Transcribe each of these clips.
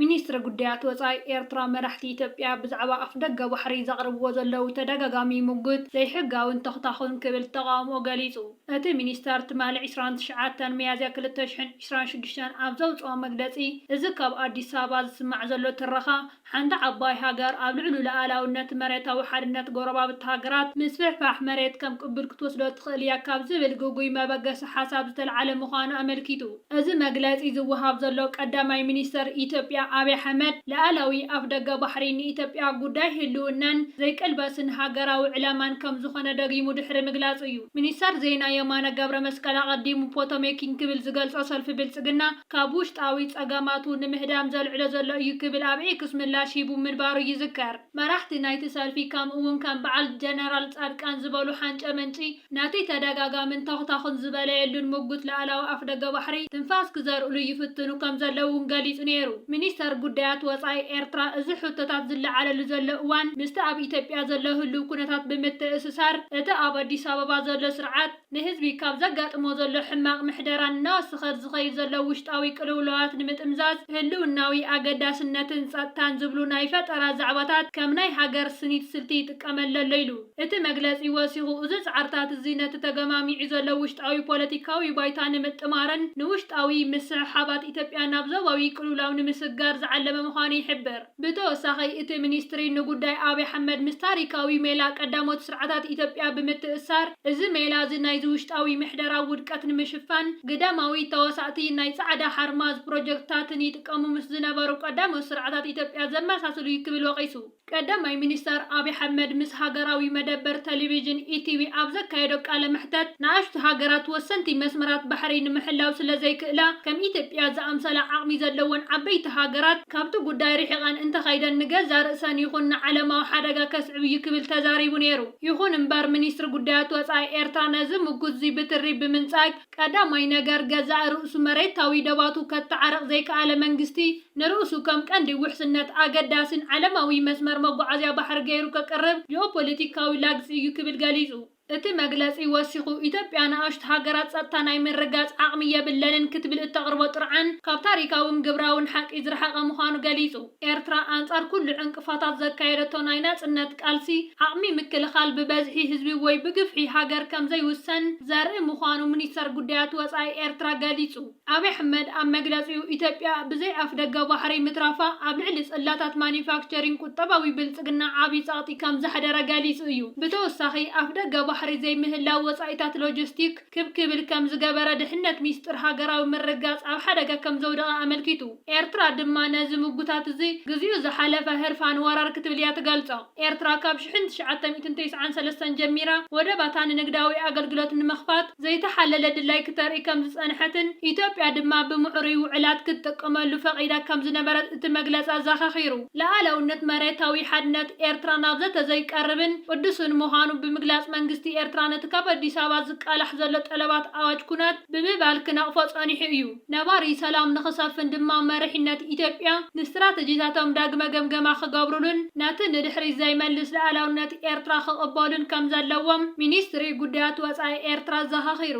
ሚኒስትሪ ጉዳያት ወፃኢ ኤርትራ መራሕቲ ኢትዮጵያ ብዛዕባ ኣፍደገ ባሕሪ ዘቕርብዎ ዘለዉ ተደጋጋሚ ሙግት ዘይሕጋዊን ተኹታኹን ክብል ተቓውምኡ ገሊጹ። እቲ ሚኒስተር ትማሊ ዕስራን ትሽዓተን ሚያዝያ ክልተ ሽሕን ዕስራን ሽዱሽተን ኣብ ዘውጽኦ መግለጺ እዚ ካብ ኣዲስ ኣበባ ዝስማዕ ዘሎ ትረኻ ሓንቲ ዓባይ ሃገር ኣብ ልዕሉ ልኣላውነት መሬታዊ ሓድነት ጎረባብቲ ሃገራት ምስፍሕፋሕ መሬት ከም ቅቡል ክትወስዶ ትኽእል እያ ካብ ዝብል ግጉይ መበገሲ ሓሳብ ዝተልዓለ ምዃኑ ኣመልኪቱ። እዚ መግለጺ ዝወሃብ ዘሎ ቀዳማይ ሚኒስተር ኢትዮጵያ ኣብይ ኣሕመድ ልኣላዊ ኣፍደገ ባሕሪ ንኢትዮጵያ ጉዳይ ህልውናን ዘይቅልበስን ሃገራዊ ዕላማን ከምዝኾነ ደጊሙ ድሕሪ ምግላጹ እዩ። ሚኒስተር ዜና የማነ ገብረመስቀል ኣቐዲሙ ፖቶሜኪን ክብል ዝገልጾ ሰልፊ ብልጽግና ካብ ውሽጣዊ ጸገማቱ ንምህዳም ዘልዕሎ ዘሎ እዩ ክብል ኣብ ኤክስ ምላሽ ሂቡ ምንባሩ ይዝከር። መራሕቲ ናይቲ ሰልፊ ከምኡ'ውን ከም በዓል ጀነራል ጻድቃን ዝበሉ ሓንጨ መንጪ ነቲ ተደጋጋምን ተኹታኹን ዝበለየሉን ምጉት ላእላዊ ኣፍደገ ባሕሪ ትንፋስ ክዘርኡሉ ይፍትኑ ከም ዘለዉ እውን ገሊጹ ነይሩ። ሚኒስተር ጉዳያት ወጻኢ ኤርትራ እዚ ሕቶታት ዝለዓለሉ ዘሎ እዋን ምስቲ ኣብ ኢትዮጵያ ዘሎ ህሉው ኩነታት ብምትእስሳር እቲ ኣብ ኣዲስ ኣበባ ዘሎ ስርዓት ንህዝቢ ካብ ዘጋጥሞ ዘሎ ሕማቕ ምሕደራን እናወሰኸ ዝኸይድ ዘሎ ውሽጣዊ ቅልውላዋት ንምጥምዛዝ ህልውናዊ ኣገዳስነትን ጸጥታን ዝብሉ ናይ ፈጠራ ዛዕባታት ከም ናይ ሃገር ስኒት ስልቲ ይጥቀመሉ ኣሎ ኢሉ። እቲ መግለጺ ወሲኹ፣ እዚ ጻዕርታት እዚ ነቲ ተገማሚዑ ዘሎ ውሽጣዊ ፖለቲካዊ ባይታ ንምጥማርን ንውሽጣዊ ምስሕሓባት ኢትዮጵያ ናብ ዞባዊ ቅልውላው ንምስጋር ዝዓለመ ምዃኑ ይሕብር። ብተወሳኺ እቲ ሚኒስትሪ ንጉዳይ ኣብይ ኣሕመድ ምስ ታሪካዊ ሜላ ቀዳሞት ስርዓታት ኢትዮጵያ ብምትእስሳር፣ እዚ ሜላ እዚ ናይዚ ውሽጣዊ ምሕደራ ውድቀት ንምሽፋን ግዳማዊ ተዋሳእቲ ናይ ጻዕዳ ሓርማዝ ፕሮጀክትታትን ይጥቀሙ ምስ ዝነበሩ ቀዳሞት ስርዓታት ኢትዮጵያ ዘመሳስል'ዩ ክብል ወቒሱ። ቀዳማይ ሚኒስተር ኣብይ ኣሕመድ ምስ ሃገራዊ መደበር ተሌቪዥን ኢቲቪ ኣብ ዘካየዶ ቃለ መሕተት፣ ንኣሽቱ ሃገራት ወሰንቲ መስመራት ባሕሪ ንምሕላው ስለዘይክእላ፣ ከም ኢትዮጵያ ዝኣምሰላ ዓቕሚ ዘለወን ዓበይቲ ሃገራት ካብቲ ጉዳይ ርሒቐን እንተኸይደን ንገዛእ ርእሰን ይኹን ንዓለማዊ ሓደጋ ከስዕብ'ዩ ክብል ተዛሪቡ ነይሩ። ይኹን'ምበር ሚኒስትሪ ጉዳያት ወጻኢ ኤርትራ ነዚ ምጉት'ዚ ብትሪ ብምንጻግ፣ ቀዳማይ ነገር ገዛእ ርእሱ መሬታዊ ደባቱ ከታዓርቕ ዘይከኣለ መንግስቲ ንርእሱ ከም ቀንዲ ውሕስነት ኣገዳሲን ዓለማዊ መስመር መጓዓዝያ ባሕሪ ገይሩ ከቅርብ ጂኦፖለቲካዊ ላግጺ እዩ ክብል ገሊጹ። እቲ መግለጺ ወሲኹ ኢትዮጵያ ንኣሽቱ ሃገራት ጸጥታ ናይ ምርግጋጽ ዓቕሚ የብለንን ክትብል እተቕርቦ ጥርዓን ካብ ታሪካውን ግብራውን ሓቂ ዝረሓቐ ምዃኑ ገሊጹ። ኤርትራ ኣንጻር ኩሉ ዕንቅፋታት ዘካየደቶ ናይ ናጽነት ቃልሲ፣ ዓቕሚ ምክልኻል ብበዝሒ ህዝቢ ወይ ብግፍሒ ሃገር ከምዘይውሰን ዘርኢ ምዃኑ ሚኒስተር ጉዳያት ወጻኢ ኤርትራ ገሊጹ። ኣብይ ኣሕመድ ኣብ መግለጺኡ፣ ኢትዮጵያ ብዘይ ኣፍደገ ባሕሪ ምትራፋ ኣብ ልዕሊ ጽላታት ማኑፋክቸሪንግ ቁጠባዊ ብልጽግና ዓቢ ጸቕጢ ከምዘሕደረ ገሊጹ እዩ። ብተወሳኺ ኣፍደገ ባሕሪ ዘይምህላው ወጻኢታት ሎጂስቲክ፣ ክብ ክብል ከም ዝገበረ ድሕነት ሚስጥር ሃገራዊ ምርግጋጽ ኣብ ሓደጋ ከም ዘውደቐ ኣመልኪቱ። ኤርትራ ድማ ነዚ ምጉታት እዚ ግዚኡ ዝሓለፈ ህርፋን ወራር ክትብል እያ ትገልጾ። ኤርትራ ካብ ሽሕን ትሽዓተ ሚእትን ተስዓን ሰለስተን ጀሚራ ወደባታ ንንግዳዊ ኣገልግሎት ንምኽፋት ዘይተሓለለ ድላይ ክተርኢ ከም ዝጸንሐትን ኢትዮጵያ ድማ ብምዕሩይ ውዕላት ክትጥቅመሉ ፈቒዳ ከም ዝነበረት እቲ መግለጺ ኣዘኻኺሩ። ልኣላውነት መሬታዊ ሓድነት ኤርትራ ናብ ዘተ ዘይቀርብን ቅዱስን ምዃኑ ብምግላጽ መንግስቲ ኤርትራ ነቲ ካብ ኣዲስ ኣበባ ዝቃላሕ ዘሎ ጠለባት ኣዋጅ ኩናት ብምባል ክነቕፎ ጸኒሑ እዩ። ነባሪ ሰላም ንኽሰፍን ድማ መሪሕነት ኢትዮጵያ ንስትራተጂታቶም ዳግመ ገምገማ ክገብሩሉን ነቲ ንድሕሪት ዘይመልስ ልኣላውነት ኤርትራ ክቕበሉን ከም ዘለዎም ሚኒስትሪ ጉዳያት ወጻኢ ኤርትራ ኣዘኻኺሩ።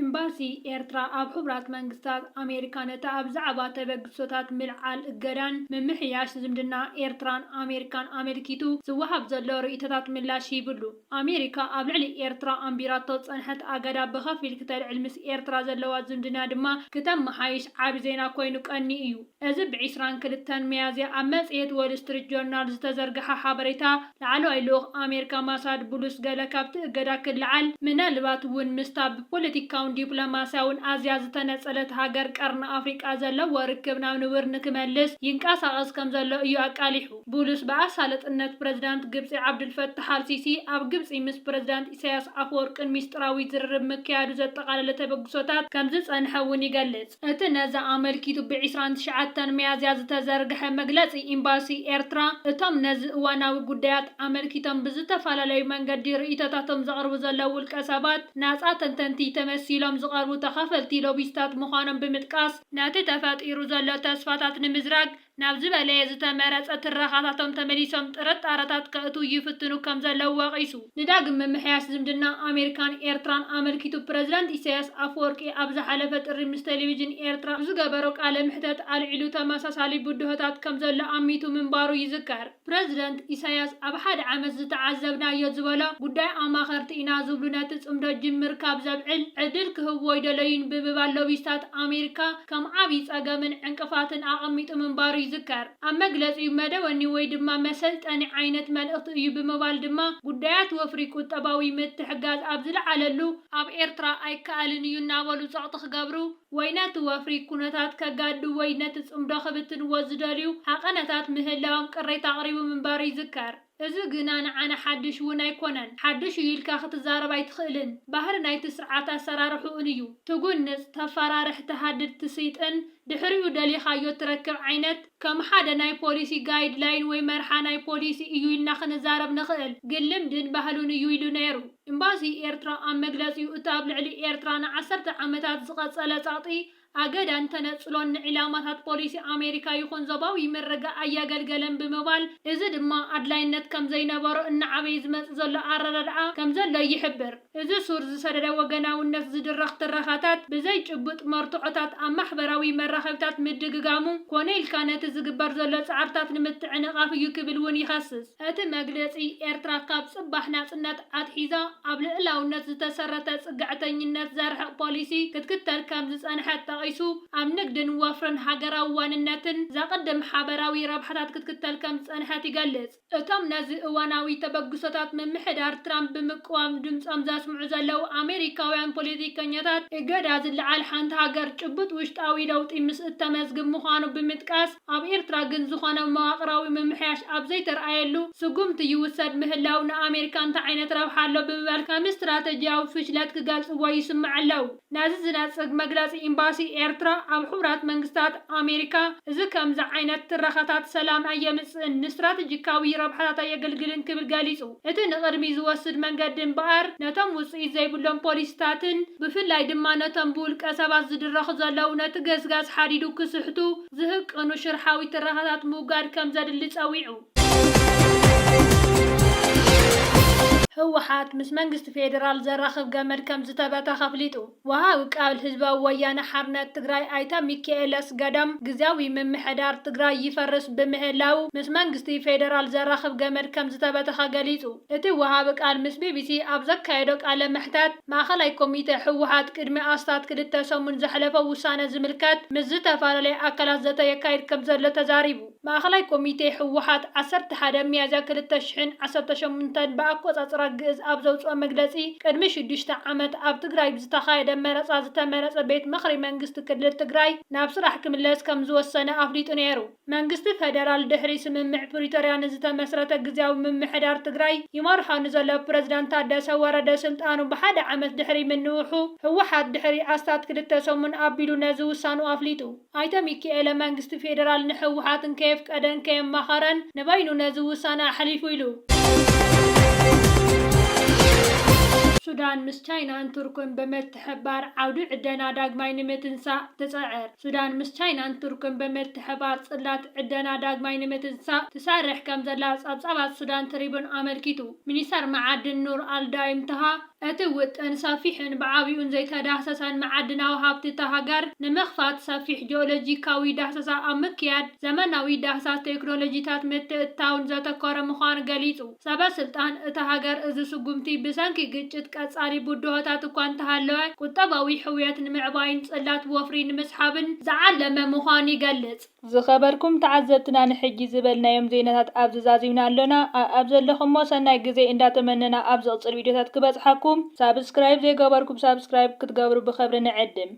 ኢምባሲ ኤርትራ ኣብ ሕቡራት መንግስታት፣ ኣሜሪካ ነቲ ኣብ ዛዕባ ተበግሶታት ምልዓል እገዳን ምምሕያሽ ዝምድና ኤርትራን ኣሜሪካን ኣመልኪቱ ዝወሃብ ዘሎ ርእይቶታት ምላሽ ሂብሉ። ኣሜሪካ ኣብ ልዕሊ ኤርትራ ኣንቢራቶ ዝጸንሐት ኣገዳ ብኸፊል ክተልዕል ምስ ኤርትራ ዘለዋ ዝምድና ድማ ክተመሓይሽ ዓቢ ዜና ኮይኑ ቀንዩ እዩ። እዚ ብ ዕስራን ክልተን ሚያዝያ ኣብ መጽሔት ዎል ስትሪት ጆርናል ዝተዘርግሐ ሓበሬታ፣ ላዕለዋይ ልኡኽ ኣሜሪካ ማሳድ ቡሉስ ገለ ካብቲ እገዳ ክለዓል፣ ምናልባት እውን ምስታ ብፖለቲካውን ዲፕሎማስያውን ኣዝያ ዝተነጸለት ሃገር ቀርኒ ኣፍሪቃ ዘለዎ ርክብ ናብ ንቡር ንክመልስ ይንቀሳቐስ ከምዘሎ እዩ ኣቃሊሑ። ቡሉስ ብኣሳልጥነት ፕረዚዳንት ግብጺ ዓብዱልፈታሕ ኣልሲሲ ኣብ ግብጺ ምስ ፕረዚዳንት ኢሳይያስ ኣፈወርቅን ሚስጥራዊ ዝርርብ ምክያዱ ዘጠቓለለ ተበግሶታት ከምዝጸንሐ እውን ይገልጽ። እቲ ነዚ ኣመልኪቱ ብ ዕስራን ትሽዓተን ሚያዝያ ዝተዘርግሐ መግለጺ ኢምባሲ ኤርትራ፣ እቶም ነዚ እዋናዊ ጉዳያት ኣመልኪቶም ብዝተፈላለዩ መንገዲ ርእይቶታቶም ዘቕርቡ ዘለዉ ውልቀ ሰባት፣ ናጻ ተንተንቲ ተመሲሎም ዝቐርቡ ተኻፈልቲ ሎቢስታት ምዃኖም ብምጥቃስ፣ ነቲ ተፈጢሩ ዘሎ ተስፋታት ንምዝራግ፣ ናብ ዝበለየ ዝተመረጸ ትረኻታቶም ተመሊሶም ጥርጣረታት ከእትው ይፍትኑ ከም ዘለዉ ወቒሱ። ንዳግም ምምሕያሽ ዝምድና ኣሜሪካን ኤርትራን ኣመልኪቱ ፕረዚደንት ኢሳይያስ ኣፈወርቂ ኣብ ዝሓለፈ ጥሪ ምስ ቴሌቪዥን ኤርትራ ኣብ ዝገበሮ ቃለ መሕተት ኣልዒሉ ተመሳሳሊ ብድሆታት ከም ዘሎ ኣሚቱ ምንባሩ ይዝከር። ፕረዚደንት ኢሳያስ ኣብ ሓደ ዓመት ዝተዓዘብናዮ ዝበሎ ጉዳይ ኣማኸርቲ ኢና ዝብሉ ነቲ ጽምዶ ጅምር ካብ ዘብዕል ዕድል ክህብዎ ኣይደለዩን ብምባል ሎቢስታት ኣሜሪካ ከም ዓብዪ ጸገምን ዕንቅፋትን ኣቐሚጡ ምንባሩ ይዝከር። ኣብ መግለጺኡ መደወኒ ወይ ድማ መሰልጠኒ ዓይነት መልእኽቲ እዩ ብምባል ድማ ጉዳያት ወፍሪ ቁጠባዊ ምትሕጋዝ ኣብ ዝለዓለሉ ኣብ ኤርትራ ኣይከኣልን እዩ እናበሉ ጸቕጢ ክገብሩ ወይ ነቲ ወፍሪ ኩነታት ከጋድዱ ወይ ነቲ ጽምዶ ክብትንዎ ዝደልዩ ሃቐነታት ምህላዎም ቅሬታ ኣቕሪቡ ምንባሩ ይዝከር። እዚ ግና ንዓና ሓድሽ እውን ኣይኮነን። ሓድሽ እዩ ኢልካ ክትዛረብ ኣይትኽእልን። ባህሪ ናይቲ ስርዓት ኣሰራርሕኡን እዩ። ትጉንጽ፣ ተፈራርሕ፣ ትሃድድ፣ ትስይጥን ድሕሪኡ ደሊኻዮ እትረክብ ዓይነት፣ ከም ሓደ ናይ ፖሊሲ ጋይድ ላይን ወይ መርሓ ናይ ፖሊሲ እዩ ኢልና ክንዛረብ ንኽእል፣ ግን ልምድን ባህሉን እዩ ኢሉ ነይሩ። ኤምባሲ ኤርትራ ኣብ መግለጺኡ እቲ ኣብ ልዕሊ ኤርትራ ንዓሰርተ ዓመታት ዝቐጸለ ጸቕጢ ኣገዳን ተነጽሎን ንዒላማታት ፖሊሲ ኣሜሪካ ይኹን ዞባዊ ምርግጋእ ኣያገልገለን ብምባል እዚ ድማ ኣድላይነት ከምዘይነበሮ እናዓበየ ዝመጽእ ዘሎ ኣረዳድኣ ከምዘሎ ይሕብር። እዚ ሱር ዝሰደደ ወገናውነት ዝድረኽ ትረኻታት ብዘይ ጭቡጥ መርትዖታት ኣብ ማሕበራዊ መራኸቢታት ምድግጋሙ፣ ኮነ ኢልካ ነቲ ዝግበር ዘሎ ጻዕርታት ንምትዕንቓፍ እዩ ክብል እውን ይኸስስ። እቲ መግለጺ፣ ኤርትራ ካብ ጽባሕ ናጽነት ኣትሒዛ ኣብ ልኡላውነት ዝተሰረተ ጽግዕተኝነት ዘርሕቕ ፖሊሲ ክትክተል ከም ዝጸንሐት ጠቒሱ፣ ኣብ ንግድን ወፍርን ሃገራዊ ዋንነትን ዘቕድም ሓበራዊ ረብሓታት ክትክተል ከም ዝጸንሐት ይገልጽ። እቶም ነዚ እዋናዊ ተበግሶታት ምምሕዳር ትራምፕ ብምቅዋም ድምጾም ዘስምዑ ዘለዉ ኣሜሪካውያን ፖለቲከኛታት፣ እገዳ ዝለዓል ሓንቲ ሃገር ጭቡጥ ውሽጣዊ ለውጢ ምስ እተመዝግብ ምዃኑ ብምጥቃስ፣ ኣብ ኤርትራ ግን ዝኾነ መዋቕራዊ ምምሕያሽ ኣብ ዘይተርኣየሉ፣ ስጉምቲ ይውሰድ ምህላው ንኣሜሪካ እንታይ ዓይነት ረብሓ ኣሎ ብምባል ከም ስትራተጂያዊ ፍሽለት ክገልጽዎ ይስምዑ ኣለዉ። ነዚ ዝነጽግ መግለጺ ኢምባሲ ኤርትራ ኣብ ሕቡራት መንግስታት ኣሜሪካ፣ እዚ ከምዚ ዓይነት ትረኻታት ሰላም ኣየምጽእን፣ ንስትራተጂካዊ ረብሓታት ኣየገልግልን ክብል ገሊጹ። እቲ ንቕድሚት ዝወስድ መንገዲ እምበኣር፣ ነቶም ውጽኢት ዘይብሎም ፖሊሲታትን ብፍላይ ድማ ነቶም ብውልቀ ሰባት ዝድረኹ ዘለዉ ነቲ ገስጋስ ሓዲዱ ክስሕቱ ዝህቅኑ ሽርሓዊ ትረኻታት ምውጋድ ከምዘድሊ ጸዊዑ። ህወሓት ምስ መንግስቲ ፌዴራል ዘራኽብ ገመድ ከምዝተበተኽ ኣፍሊጡ። ወሃቢ ቃል ህዝባዊ ወያነ ሓርነት ትግራይ ኣይተ ሚኪኤል ኣስገዶም ግዝያዊ ምምሕዳር ትግራይ ይፈርስ ብምህላዉ ምስ መንግስቲ ፌዴራል ዘራኽብ ገመድ ከምዝተበተኸ ገሊፁ። እቲ ወሃቢ ቃል ምስ ቢቢሲ ኣብ ዘካየዶ ቃለ መሕተት ማእኸላይ ኮሚቴ ህወሓት ቅድሚ ኣስታት ክልተ ሰሙን ዘሕለፎ ውሳነ ዝምልከት ምስ ዝተፈላለያ ኣካላት ዘተ የካይድ ከምዘሎ ተዛሪቡ። ማእኸላይ ኮሚቴ ህወሓት ዓሰርተ ሓደ ሚያዝያ ክልተ ሽሕን ዓሰርተ ሸሞንተን ብኣቆፃፅራ ግእዝ ኣብ ዘውፅኦ መግለፂ ቅድሚ ሽዱሽተ ዓመት ኣብ ትግራይ ብዝተኻየደ መረፃ ዝተመረፀ ቤት ምኽሪ መንግስቲ ክልል ትግራይ ናብ ስራሕ ክምለስ ከምዝወሰነ ኣፍሊጡ ነይሩ። መንግስቲ ፌደራል ድሕሪ ስምምዕ ፕሪቶርያ ንዝተመስረተ ግዝያዊ ምምሕዳር ትግራይ ይመርሖ ንዘሎ ፕረዚዳንት ታደሰ ወረደ ስልጣኑ ብሓደ ዓመት ድሕሪ ምንውሑ ህወሓት ድሕሪ ኣስታት ክልተ ሰሙን ኣቢሉ ነዚ ውሳንኡ ኣፍሊጡ። ኣይተ ሚኪኤለ መንግስቲ ፌዴራል ንህወሓት እንከየፍቀደን ከየማኸረን ንበይኑ ነዚ ውሳነ ኣሕሊፉ ኢሉ። ሱዳን ምስ ቻይናን ቱርክን ብምትሕብባር ዓውዲ ዕደና ዳግማይ ንምትንሳእ ትፅዕር ሱዳን ምስ ቻይናን ቱርክን ብምትሕብባር ፅላት ዕደና ዳግማይ ንምትንሳእ ትሰርሕ ከምዘላ ፀብፃባት ሱዳን ትሪቡን ኣመልኪቱ። ሚኒስተር መዓድን ኑር ኣልዳይም ታሃ፣ እቲ ውጥን ሰፊሕን ብዓቢኡን ዘይተዳህሰሰን መዓድናዊ ሃብቲ እታ ሃገር ንምኽፋት ሰፊሕ ጂኦሎጂካዊ ዳህሰሳ ኣብ ምክያድ ዘመናዊ ዳህሳስ ቴክኖሎጂታት ምትእትታውን ዘተኮረ ምዃኑ ገሊጹ። ሰበ ስልጣን እታ ሃገር እዚ ስጉምቲ ብሰንኪ ግጭት ቀጻሊ ብድሆታት እኳ እንተሃለወ ቁጠባዊ ሕውየት ንምዕባይን ጽላት ወፍሪ ንምስሓብን ዝዓለመ ምዃኑ ይገልጽ። ዝኸበርኩም ተዓዘብትና ንሕጂ ዝበልናዮም ዜናታት ኣብዚ ዛዚምና ኣሎና ኣኣብ ዘለኹሞ ሰናይ ግዜ እንዳተመነና ኣብ ዝቕጽል ቪድዮታት ክበጽሓኩም ሳብስክራይብ ዘይገበርኩም ሳብስክራይብ ክትገብሩ ብኸብሪ ንዕድም።